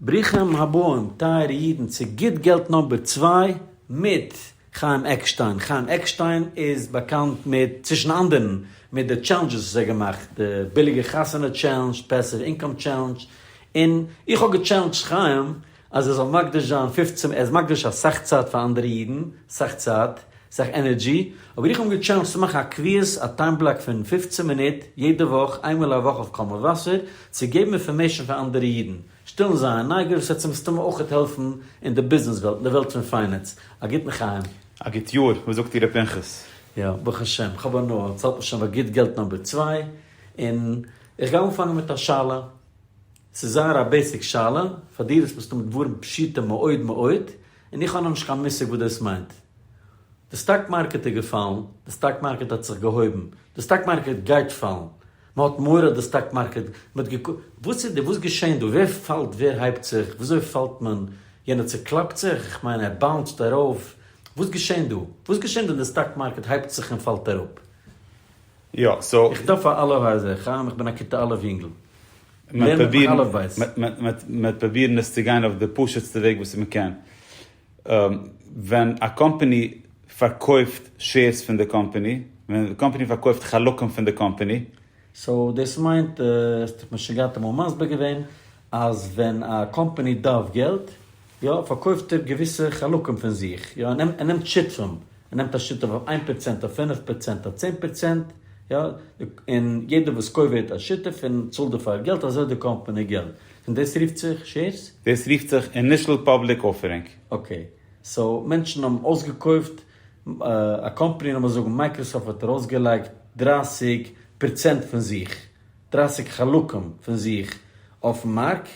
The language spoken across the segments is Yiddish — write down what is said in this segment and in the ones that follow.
ברוכים הבאים טייערע אידן צו גוט געלט נאמבער צוויי מיט חיים עקשטיין, חיים עקשטיין איז באקאנט מיט צווישן אנדערן מיט די טשעלענדזשעס וואס ער האט געמאכט, די ביליגע חתונה טשעלענדזש, פעסיוו אינקאם טשעלענדזש, און איך האב געטשעלענדזשט חיים אז ער זאל מקדיש זיין פֿופֿצן, ער איז מקדיש אסאך צייט פאר אנדערע אידן, אסאך צייט, זיך ענערדזשי, האב איך אים געטשעלענדזשט צו מאכן א קביעות א טיים בלאק פון פֿופֿצן מינוט יעדע וואך, איין מאל א וואך אויף קול מבשר, צו געבן אינפארמעישן פאר אנדערע אידן, שטילן זייער נייגער וואס וועט מסתמא אויכעט העלפן אין די ביזנעס וועלט, אין די וועלט פון פיינענס. א גוטן חיים. א גוט יאר, וואס זאגט איר ר' פנחס? יא, ברוך השם, כ'האב הנאה, צאלט מען שוין פאר גוט געלט נאמבער צוויי, און איך גיי אנפאנגען מיט א שאלה, ס'איז זייער א בעיסיק שאלה, פאר דיר איז עס מסתמא דברים פשוטים מאוד מאוד, און איך האב נאכנישט קיין מושג וואס דאס מיינט. די סטאק מארקעט איז געפאלן, די סטאק מארקעט האט זיך געהויבן, די סטאק מארקעט גייט פאלן, מען האט מורא די סטאק מארקעט, מען האט געקו. וואס איז די וואס געשעהן דא? ווער פאלט ווער הייבט זיך? וויאזוי פאלט מען? יענער צוקלאפט זיך? איך מיין ער באונסד ארויף? וואס געשעהן דא? וואס געשעהן דא אין די סטאק מארקעט הייבט זיך און פאלט אראפ? יא סאו. איך דארף א אלוהי עזר, חיים איך בין א כיתה א' יונגל. מ'וועט פרובירן עס צו גיין אויף די פשוט'סטע וועג וואס מ'קען. ווען א קאמפאני פארקויפט שעירס פון די קאמפאני, ווען די קאמפאני פארקויפט חלקים פון די קאמפאני. סאו דאס מיינט, האסט דיך משוגעת אמאל מסביר געווען, אז ווען א קאמפאני דארף געלט, יא, פארקויפט ער געוויסע חלקים פון זיך, יא, ער נעמט שותפים, ער נעמט א שותף אויף איין פראצענט, אויף פינף פראצענט, אויף צען פראצענט, יא, און יעדער וואס קויפט ווערט א שותף און צאלט דערפאר געלט, אזוי איז די קאמפאני געלט, און דאס רופט זיך שעירס? דאס רופט זיך אינישעל פאבליק אפערינג. אקעי, סאו מענטשן האבן אויסגעקויפט א קאמפאני, לאמיר זאגן מייקראסאפט האט ארויסגעלייגט דרײַסיק פראצענט פון זיך, דרײַסיק חלקים פון זיך אויפן מארק,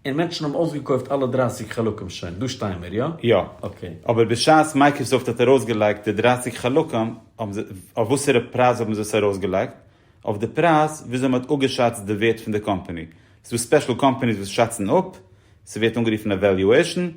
און מענטשן האבן אויסגעקויפט אלע דרייסיג חלקים שוין, דא שטייען מיר, יא? יא. אקעי. אבער בשעת מייקראסאפט האט ארויסגעלייגט די דרייסיג חלקים, האבן זיי, אויף וואסערע פרייז האבן זיי עס ארויסגעלייגט? אויף די פרייז וויאזוי מ'האט אפגעשאצט די ווערט פון די קאמפאני. ס'דא ספעשל קאמפאניס וואס שאצן אפ, ס'ווערט אנגערופן עוועליועישן,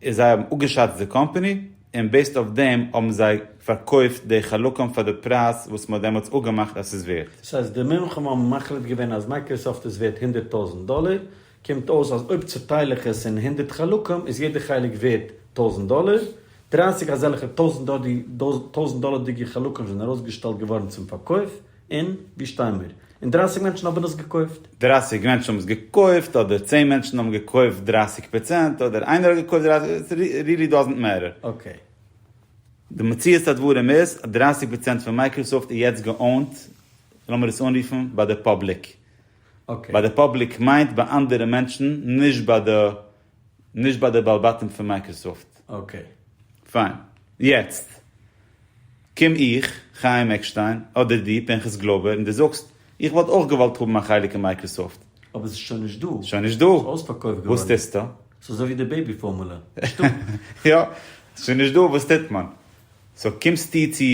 איז זיי האבן אפגעשאצט די קאמפעני און בעיסד אויף דעם האבן זיי פארקויפט די חלקים פאר די פרייז וואס מען האט דעמאלטס אפגעמאכט אז ס'איז ווערט. סאו אז די מומחים האבן מחליט געווען אז מייקראסאפט איז ווערט הונדערט טויזענט דאלער, קומט אויס אז אויב צוטייל איך עס אין הונדערט חלקים איז יעדע חלק ווערט טויזענט דאלער, דרײַסיק אזעלכע טויזענט דאלערדיגע חלקים זענען ארויסגעשטעלט געווארן צום פארקויף. און ווי שטיי מיר? און דרייסיג מענטשן האבן עס געקויפט? דרייסיג מענטשן האבן עס געקויפט אדער צען מענטשן האבן געקויפט דרייסיג פראצענט אדער איינער האט געקויפט דרייסיג רילי דאזענט מעטער. אקעי. די מציאות הדברים איז אז דרייסיג פראצענט פון מייקראסאפט איז יעצט געאונט, לאמיר עס אנרופן, ביי די פאבליק. אקעי. ביי די פאבליק מיינט ביי אנדערע מענטשן, נישט ביי די. נישט ביי די בעל בתים פון מייקראסאפט. אקעי. פיין. יעצט קום איך, חיים עקשטיין, אדער דו, פנחס גלויבער, און דו זאגסט, איך וואלט אויך געוואלט האבן א חלק אין מייקראסאפט. אבער עס איז שוין נישט דא. שוין נישט דא. עס איז אויספארקויפט געווארן. וואס טוסטו? עס איז אזוי ווי די בעיבי פארמולע. נישטא. יא. עס איז שוין נישט דא. וואס טוט מען? סאו קומסטו צו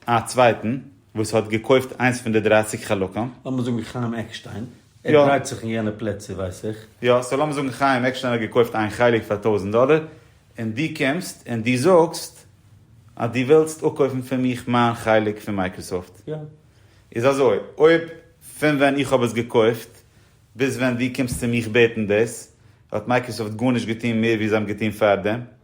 א צווייטן. וואס האט געקויפט איינס פון די דרייסיג חלקים. לאמיר זאגן חיים עקשטיין, ער דרייט זיך אין יענע פלעצער ווייס איך. יא, סאו לאמיר זאגן חיים עקשטיין האט געקויפט איין חלק פאר טויזנט דאלער, און דו קומסט און דו זאגסט אז דו ווילסט אפקויפן פון מיך מיין חלק פון מייקראסאפט. יא. איז אזוי, אויב פון ווען איך האב עס געקויפט ביז ווען דו קומסט צו מיך בעטן דאס, האט מייקראסאפט גארנישט געטון מער ווי זיי האבן געטון פארדעם.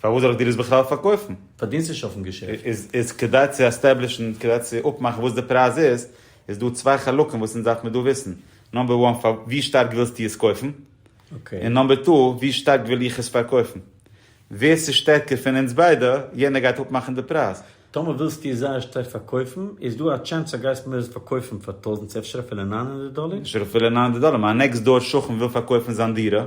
פארוואס זאל איך דיר עס בכלל פארקויפן? פארדינסט נישט אויפן געשעפט. איז כדי צו עסטעבלישן, כדי צו אפמאכן וואס די פרייז איז, איז דא צוויי חלקים וואס אונז דארף מיר דא וויסן, נאמבער וואן, פאר ווי שטארק ווילסטו עס קויפן? און נאמבער טו, ווי שטארק וויל איך עס פארקויפן? ווער ס'איז שטערקער פון אונז ביידע, יענער גייט אפמאכן די פרייז. טאמער ווילסטו עס זייער שטארק פארקויפן, איז דא א טשענס אז גייסט מיר עס פארקויפן פאר טויזנט, אפשר אפילו נײַן הונדערט דאלער? אפשר אפילו נײַן הונדערט דאלער, מיין נעקסט דאור שכן וויל פארקויפן זיין דירה,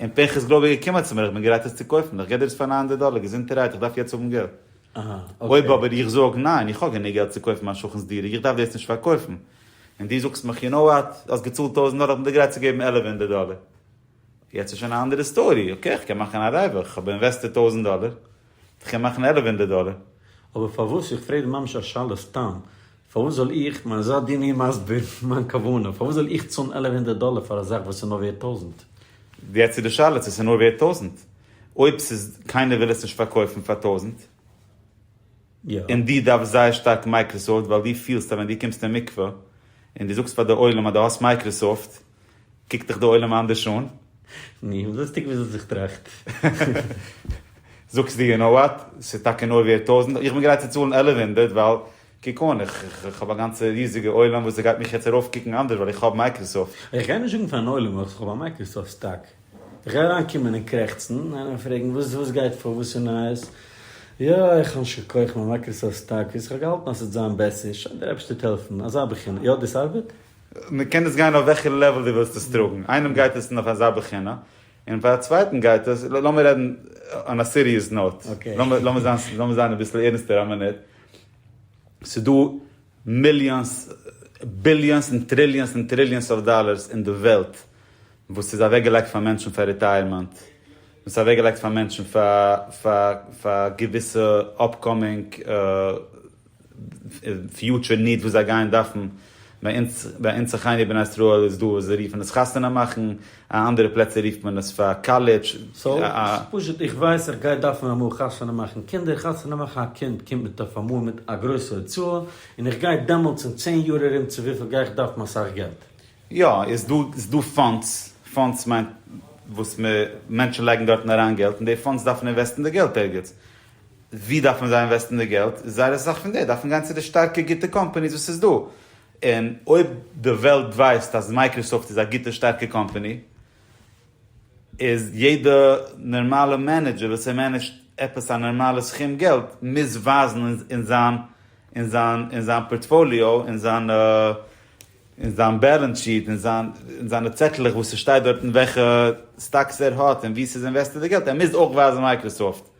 און פנחס גלויב איז געקומען צו מיר, איך בין גרייט עס צו קויפן, איך גיב דיר עס פאר נײַן הונדערט דאלער, געזונטערהייט, איך דארף יעצט האבן געלט. אויב אבער איך זאג, ניין, איך האב גענוג געלט צו קויפן מיין שכן'ס דירה, איך דארף דאס נישט פארקויפן, און דו זאגסט מיך, יו נאו וואט, האסט געצאלט טויזנט דאלער, איך בין דיר גרייט צו געבן עלף הונדערט דאלער. יעצט איז שוין א אנדערע סטארי, אקעי, איך קען מאכן א רווח, איך האב אינוועסטעד טויזנט דאלער, כ'קען מאכן עלף הונדערט דאלער. אבער פארוואס, איך פרעג ממש א שאלה סתם, פארוואס זאל איך, כ'מיין זיי דו מיר מסביר מיין כוונה, פארוואס זאל איך צאלן עלף הונדערט דאלער פאר א זאך וואס איז נאר ווערט טויזנט? יעצט איז די שאלה צו ס'איז נאר ווערט טויזנט, אויב ס'איז קיינער וויל עס נישט פארקויפן פאר טויזנט, און דו דארפסט זייער שטארק מייקראסאפט ווייל דו פילסט אז ווען דו קומסט אין מקווה און דו זאגסט פאר די עולם אז דו האסט מייקראסאפט, קוקט דיך די עולם אנדערש אן? ני, לוסטיג וויאזוי זיך טראכט. זאגסט דיר יו נאו וואט, ס'איז טאקע נאר ווערט טויזנט, איך בין גרייט צו צאלן עלף הונדערט ווייל, קוק אן, איך האב א גאנצע ריזיגע עולם וואס ס'גייט מיך יעצט ארויפקוקן אנדערש ווייל איך האב מייקראסאפט. איך גיי נישט זאגן פארן עולם ווייל איך האב א מייקראסאפט סטאק. איך גיי אריינקומען און קרעכצן, איינער וועט פרעגן וואס וואס גייט פאר, וואס איז נייעס? יא, איך האב נישט געקויפט מיין מייקראסאפט סטאק וויאזוי איך האב געהאלטן אז ס'וועט זיין בעסער, שוין דער אייבערשטער וועט העלפן, אזא בחינה. יא, דאס ארבעט? מען קען עס גיין אויף וועלכע לעוועל דו ווילסט עס טראגן, איינעם גייט עס נאך אזא בחינה, און פאר א צווייטן גייט עס, לאמיר רעדן אן א סיריעס נאוט, לאמיר זיין אביסל ערנסטער א מינוט, ס'איז דא מיליאנס, ביליאנס און טריליאנס און טריליאנס אויף דאלערס אין די וועלט וואס איז אוועק געלייגט פאר מענטשן פאר ריטייערמענט, וואס איז אוועק געלייגט פאר מענטשן פאר געוויסע אפקאמינג פיוטשער ניט וואס זיי גייען דארפן, ביי אונז ביי אונז אחינו בני ישראל איז דא וואס זיי רופן עס חתונה מאכן, אין אנדערע פלעצער רופט מען עס פאר קאלעדזש, א. פשוט איך ווייס איך גיי דארפן אמאל חתונה מאכן קינדער, חתונה מאכן א קינד קומט מיט אויף אמאל מיט א גרויסע הוצאה, און איך גיי דעמאלטס אין צען יאר ארום צו וויפיל גיי איך דארפן אסאך געלט. יא, איז דא איז דא פאנדס, פאנדס מיינט וואס מענטשן לייגן דארטן אריין געלט, און די פאנדס דארפן אינוועסטן די געלט ערגעץ. ווי דארף מען זיי אינוועסטן די געלט? זייער אסאך פון די דארפן גיין צו די שטארקע גוטע קאמפאניס וואס איז דא, און אויב די וועלט ווייסט אז מייקראסאפט איז א גוטע שטארקע קאמפאני, איז יעדע נארמאלע מענעדזשער וואס ער מענעדזשט עפעס א נארמאלע סכום געלט מוז ווייזן אין זיין אין זיין אין זיין פארטפאליאו אין זיינע אין זיין בעלענס שיעט אין זיין אין זיינע צעטלעך וואס ס'שטייט דארטן וועלכע סטאקס ער האט און ווי ס'איז אינוועסטעד די געלט ער מוז אויך ווייזן מייקראסאפט.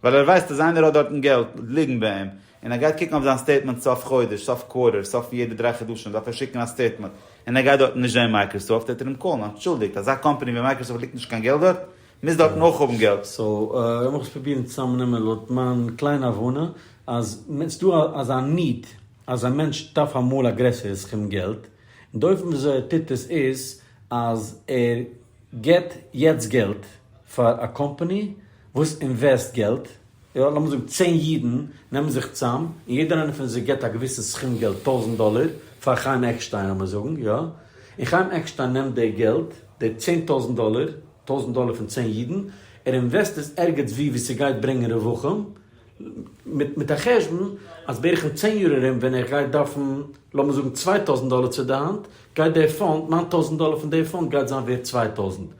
ווייל ער ווייסט אז איינער האט דארטן געלט ליגן ביי אים, און ער גייט קוקן אויף זיין סטעיטמענט סוף חודש, סוף קווארטער, סוף פון יעדע דריי חדשים דארף ער שיקן א סטעיטמענט, און ער גייט דארטן נישט זען מייקראסאפט, וועט ער אים קאלן, אנטשולדיגט, אזא קאמפאני ווי מייקראסאפט ליגט נישט קיין געלט דארט, מוז דארטן אויך האבן געלט. סאו, לאמיך עס פרובירן צוזאמנעמען לויט מיין קליינע הבנה, אז ס'איז דא אזא need, אז א מענטש דארף אמאל א גרעסערע סכום געלט, און די אופן וויאזוי ער טוט עס איז, אז ער גיבט יעצט געלט פאר א קאמפאני, וואס אינוועסט געלט, יא, לאמיר זאגן צען אידן נעמען זיך צאם, און יעדער איינער פון זיי גיבט א געוויסן סכום געלט, טויזנט דאלער, פאר חיים עקשטיין לאמיר זאגן, יא, און חיים עקשטיין נעמט די געלט, די צען טויזנט דאלער, טויזנט דאלער פון צען אידן, ער אינוועסט עס ערגעץ וואו וואו ס'גייט ברענגען רווחים, מיט מיט א חשבון אז בערך אין צען יאר ארום ווען ער גייט דארפן לאמיר זאגן צוויי טויזנט דאלער צו די האנט, גייט די פאנד, נײַן טויזנט דאלער פון די פאנד גייט זיין ווערט צוויי טויזנט.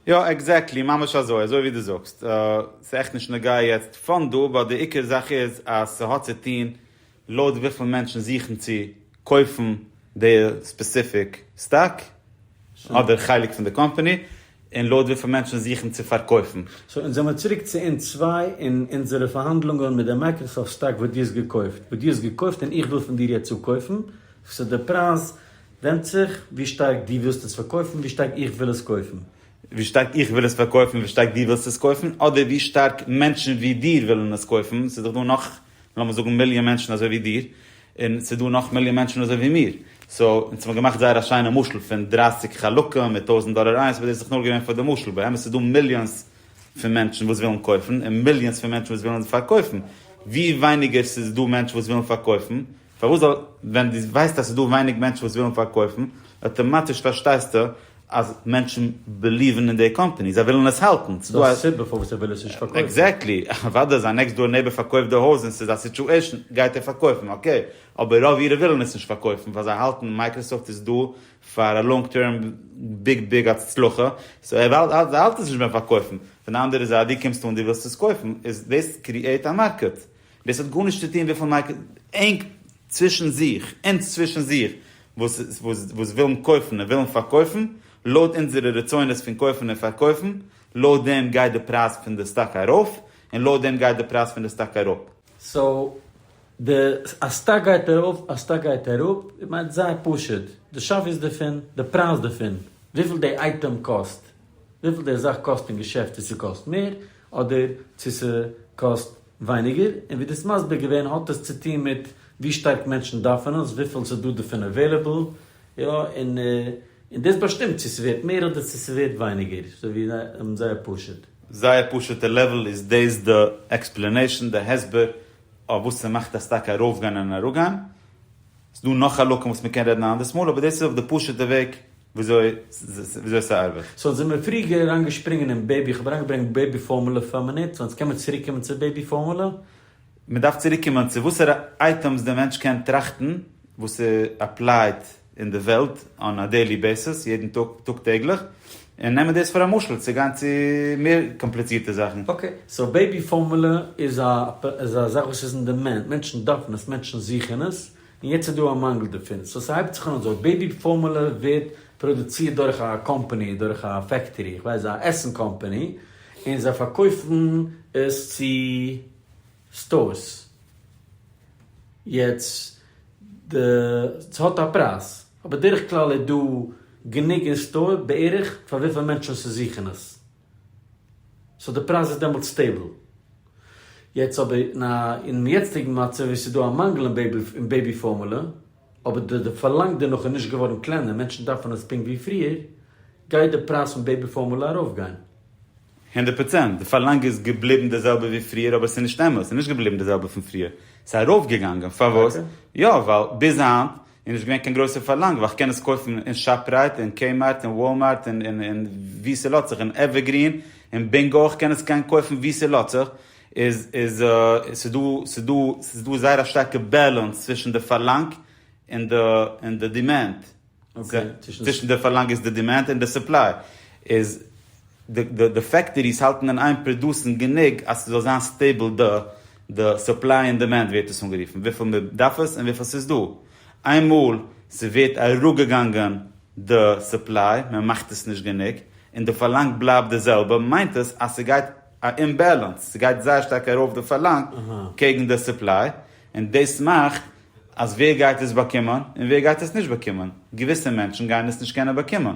יא עקזעקטלי, ממש אזוי, אזוי ווי דו זאגסט, ס'איז עכט נישט נוגע יעצט פאן דא, באט די עיקר זאך איז אז ס'האט צו טון לויט וויפיל מענטשן זוכן צו קויפן די ספעסיפיק סטאק אדער חלק פון די קאמפאני, און לויט וויפיל מענטשן זוכן צו פארקויפן. סאו אונז זעמיר צוריק צו אונז צוויי און אונזערע פארהאנדלונגען מיט די מייקראסאפט סטאק וואס דו האסט געקויפט, וואס דו האסט געקויפט און איך וויל פון דיר יעצט אפקויפן, וואס איז די פרייז ווענדט זיך ווי שטארק דו ווילסט עס פארקויפן ווי שטארק איך וויל עס קויפן. ווי שטארק איך וויל עס פארקויפן ווי שטארק דו ווילסט עס קויפן אדער ווי שטארק מענטשן ווי דיר ווילן עס קויפן ס'איז דאך דא נאך לאמיר זאגן מיליאן מענטשן אזוי ווי דיר און ס'איז דא נאך מיליאן מענטשן אזוי ווי מיר סאו אונז האבן געמאכט זייער א שיינע משל פון דרײַסיק חלקים מיט טויזנט דאלער איינס אבער דאס איז דאך נאר געווען פאר די משל באמת איז דא מיליאנס פון מענטשן וואס ווילן קויפן און מיליאנס פון מענטשן וואס ווילן פארקויפן ווי ווייניגער ס'איז דא מענטשן וואס ווילן פארקויפן פארוואס זאל ווען דו ווייסט אז ס'איז דא ווייניג מענטשן וואס ווילן פארקויפן, אטאמאטיש פארשטייסטו אז מענטשן בעליוון אין די קאמפאני, זיי ווילן עס האלטן. ס'איז דא א סיבה פארוואס ער וויל עס נישט פארקויפן. עקזעקטלי, אוודאי זיין נעקסט דאר נעיבער פארקויפט די הויז און ס'איז א סיטואשען, גייט ער פארקויפן, אקעי, אבער רוב אירע ווילן עס נישט פארקויפן ווייל זיי האלטן מייקראסאפט איז דא פאר א לאנג טערם ביג ביג הצלחה, סאו ער האלט עס נישט ביים פארקויפן, פון די אנדערע זייט דו קומסט אן דו ווילסט עס קויפן, איז דאס קריעט א מארקעט. דאס האט גארנישט צו טון וויפיל מייק ענק צווישן זיך, אונז צווישן זיך, וואס ווילן קויפן און ווילן פארקויפן, לויט אונזערע רצונות פון קויפן און פארקויפן, לויט דעם גייט די פרייז פון די סטאק ארויף, און לויט דעם גייט די פרייז פון די סטאק אראפ. סאו, די א סטאק גייט ארויף א סטאק גייט אראפ, מיינט זייער פשוט, די שוויית דערפון, די פרייז דערפון, וויפיל די אייטעם קאסט, וויפיל די זאך קאסט אין געשעפט, צו ס'קאסט מער אדער צו ס'קאסט ווייניגער, און ווי דו האסט מסביר געווען האט עס צוטוהן מיט ווי שטארק מענטשן דארפן עס, וויפיל עס איז דא דערפון עוועליבעל, יא, און און דאס באשטימט צו ס'ווערט מער אדער צו ס'ווערט ווייניגער, סאו ווי און זייער פשוט. זייער פשוטע לעוועל איז דאס די עקספלענעישן די הסבר אויף וואס ס'מאכט א סטאק ארויפגיין און אראפגיין, ס'דא נאך חלקים וואס מ'קען רעדן א אנדערס מאל, אבער דאס איז אויף די פשוטע וועג וויאזוי ס'ארבעט? סאו זעמיר פריגער אריינגעשפרינגען אין בעיבי, איך האב אריינגעברענגט בעיבי פארמולא פאר א מינוט, סאו יעצט קעמער צוריקקומען צו בעיבי פארמולא. מ'דארף צוריקקומען צו וואסערע אייטעמס די מענטש קען טראכטן וואס איז אפלייד אין די וועלט אן א דעילי בעיסיס, יעדן טאג, טאג טעגליך, און נעמען דאס פאר א משל צו גיין צו מער קאמפליצירטע זאכן. אקעי, סאו בעיבי פארמולא איז א זאך וואס איז אין דימענד, מענטשן דארפן עס, מענטשן זוכן עס, און יעצט איז דא א מאנגל דערפון, סאו ס'הייבט זיך אן אזוי, בעיבי פארמולע ווערט פראדוצירט דורך א קאמפאני, דורך א פעקטארי, איך ווייס א עסן קאמפאני, און זיי פארקויפן עס צו סטארס, יעצט די, ס'האט א פרייז, אבער בדרך כלל איז דא גענוג אין סטאר בערך פאר וויפיל מענטשן ס'זוכן עס. סאו די פרייז איז דעמאלטס סטעיבל. יעצט אבער אין א אינעם יעצטיגן מצב ווען ס'איז דא א מאנגל אין בעיבי פארמולע, אבער די די פארלאנג דערנאך איז נישט געווארן קלענער, מענטשן דארפן עס פונקט ווי פריער, גייט די פרייז פון בעיבי פארמולע ארויפגיין. הונדערט פראצענט, די פארלאנג איז געבליבן די זעלבע ווי פריער, אבער ס'איז נישט אמת, ס'איז נישט געבליבן די זעלבע פון פריער, ס'איז ארויפגעגאנגען, פארוואס? יא, ווייל ביז היינט און נישט געווען קיין גרויסע פארלאנג ווייל כ'קען עס קויפן אין שאפרייט און קעי מארט און וואל מארט און ווי ס'לאט זיך און עווערגרין און בינגא איך קען עס גיין קויפן ווי ס'לאט זיך איז איז ס'דא ס'דא ס'דא זייער א שטארקע בעלענס צווישן די פארלאנג און די און די דימענד צווישן די פארלאנג איז די דימענד און די סופליי איז. די די פעקטעריס האלטן אין איין פראדוסן גענוג אז ס'זאל זיין סטעיבל די די סופליי און דימענד ווערט עס אנגערופן, וויפיל מען דארף עס און וויפיל ס'איז דא. איינמאל ס'ווערט אראפגעגאנגען די סופליי, מען מאכט עס נישט גענוג, און די פארלאנג בלייבט די זעלבע, מיינט עס אז ס'גייט א אומבעלאנס, ס'גייט זייער שטארק ארויף די פארלאנג קעגן די סופליי, און דאס מאכט אז ווער גייט עס באקומען און ווער גייט עס נישט באקומען? געוויסע מענטשן גייען עס נישט קענען באקומען,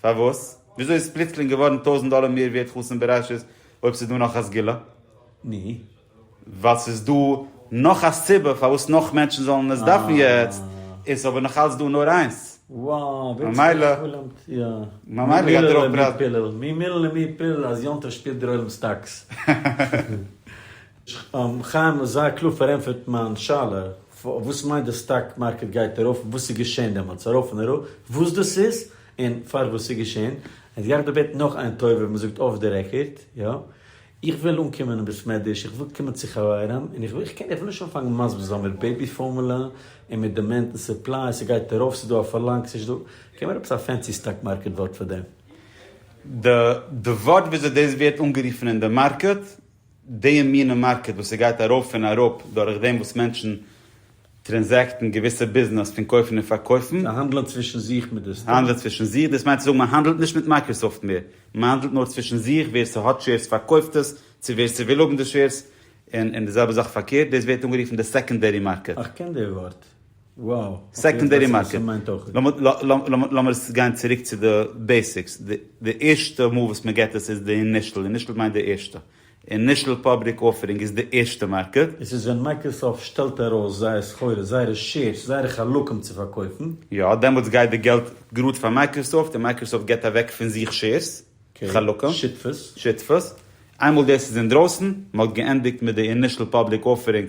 פארוואס? וויאזוי איז פלוצלינג געווארן טויזנט דאלער מער ווערט חתן בראשית אויב ס'איז דא נאך א סגולה? ני. ווייל ס'איז דא נאך א סיבה פארוואס נאך מענטשן זאלן עס דארפן יעצט, איז עס אבער נאכאלץ דא נאר איינס. וואו ווערט ס'דא א סגולה? ממילא גייט ער אויך פראווען. מי מילא למי פילל אז יום טוב שפירט דער עולם סטאקס. חיים האט זייער קלאר פארענטפערט מיין שאלה, וואס מיינט די סטאק מארקעט גייט ארויף, וואס איז געשען דעמאלטס ארויף און אראפ, וואס דאס איז, און פארוואס ס'איז געשען, און עס גייט אבער בעטן נאך איין טובה, ווי מ'זאגט אף די רעקארד, יא, איך וויל אנקומען אין בית מדרש, איך וויל קומען צו חברים, און איך וויל, איך וויל נישט אנפאנגען מסביר זיין מיט בעיבי פארמולע, און מיט דימענד און סופליי, ס'גייט ארויף, ס'איז דא א פארלאנג, ס'נישט דא, געב מיר עפעס א פענסי סטאק מארקעט ווארט פאר דעם. די ווארט וויאזוי דאס ווערט אנגערופן אין די מארקעט די מינע מארקעט וואס ס'גייט ארויף און אראפ דורך דעם וואס מענטשן טרענזעקטן געוויסע ביזנעס פון קויפן און פארקויפן. זיי האנדלען צווישן זיך מיט די סטאק. האנדלען צווישן זיך, דאס מיינט צו זאגן מען האנדלט נישט מיט מייקראסאפט מער, מען האנדלט נאר צווישן זיך, ווער ס'האט שעירס פארקויפט עס צו ווער ס'וויל האבן די שעירס, און די זעלבע זאך פארקערט, דאס ווערט אנגערופן די סעקאנדערי מארקעט. איך קען די ווארט. סעקאנדערי מארקעט, לאמיר עס גיין צוריק צו די בעסיקס, די ערשטע מאל וואס מען געט עס איז די אינישעל, אינישעל מיינט די ערשטע, אינישעל פאבליק אפערינג איז די ערשטע מארקעט. עס איז ווען מייקראסאפט שטעלט ארויס זייער סחורה, זייערע שעירס, זייערע חלקים צו פארקויפן. יא, דעמאלטס גייט די געלט גראד פאר מייקראסאפט, און מייקראסאפט געט אוועק פון זיך שעירס, חלקים, שותפות, איינמאל דאס איז אינדרויסן, מען האט געענדיגט מיט די אינישעל פאבליק אפערינג,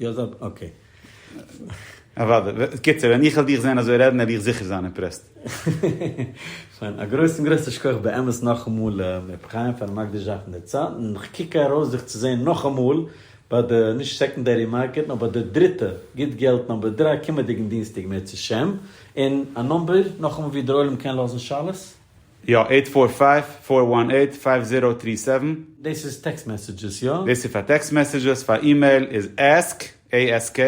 יא זאג אקעי. אוודאי. קיצור, ווען איך וועל דיך זען אזוי רעדן וועל איך זיכער זיין אימפרעסד. שוין, א גרויסן גרויסן שכח באמת נאכאמאל מר. חיים פארן מקדיש זיין פון דער צייט, און איך קוק ארויס זיך צו זען נאכאמאל ביי די, נישט סעקאנדערי מארקעט, נאר ביי די דריטע, גוט געלט נומבער דרײַ קומענדיגן דינסטאג מער צו שם און א נומבער, נאכאמאל ווי דער עולם קען לאזן שאלות. יא, עיט פאר פייוו פאר וואן עיט פייוו זירא טרי סעווען. דאס איז טעקסט מעסעדזשעס, יא? דאס איז פאר טעקסט מעסעדזשעס, פאר אימעיל איז ask, ASK,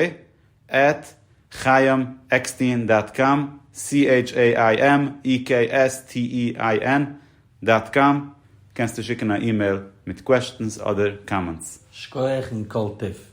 עט חיים עקסטין דאט קאם, CHAIMEKSTEIN, דאט קאם, קענסטו שיקן א אימעיל מיט קוועשטענס אדער קאמענטס. שקויעך און כל טוב.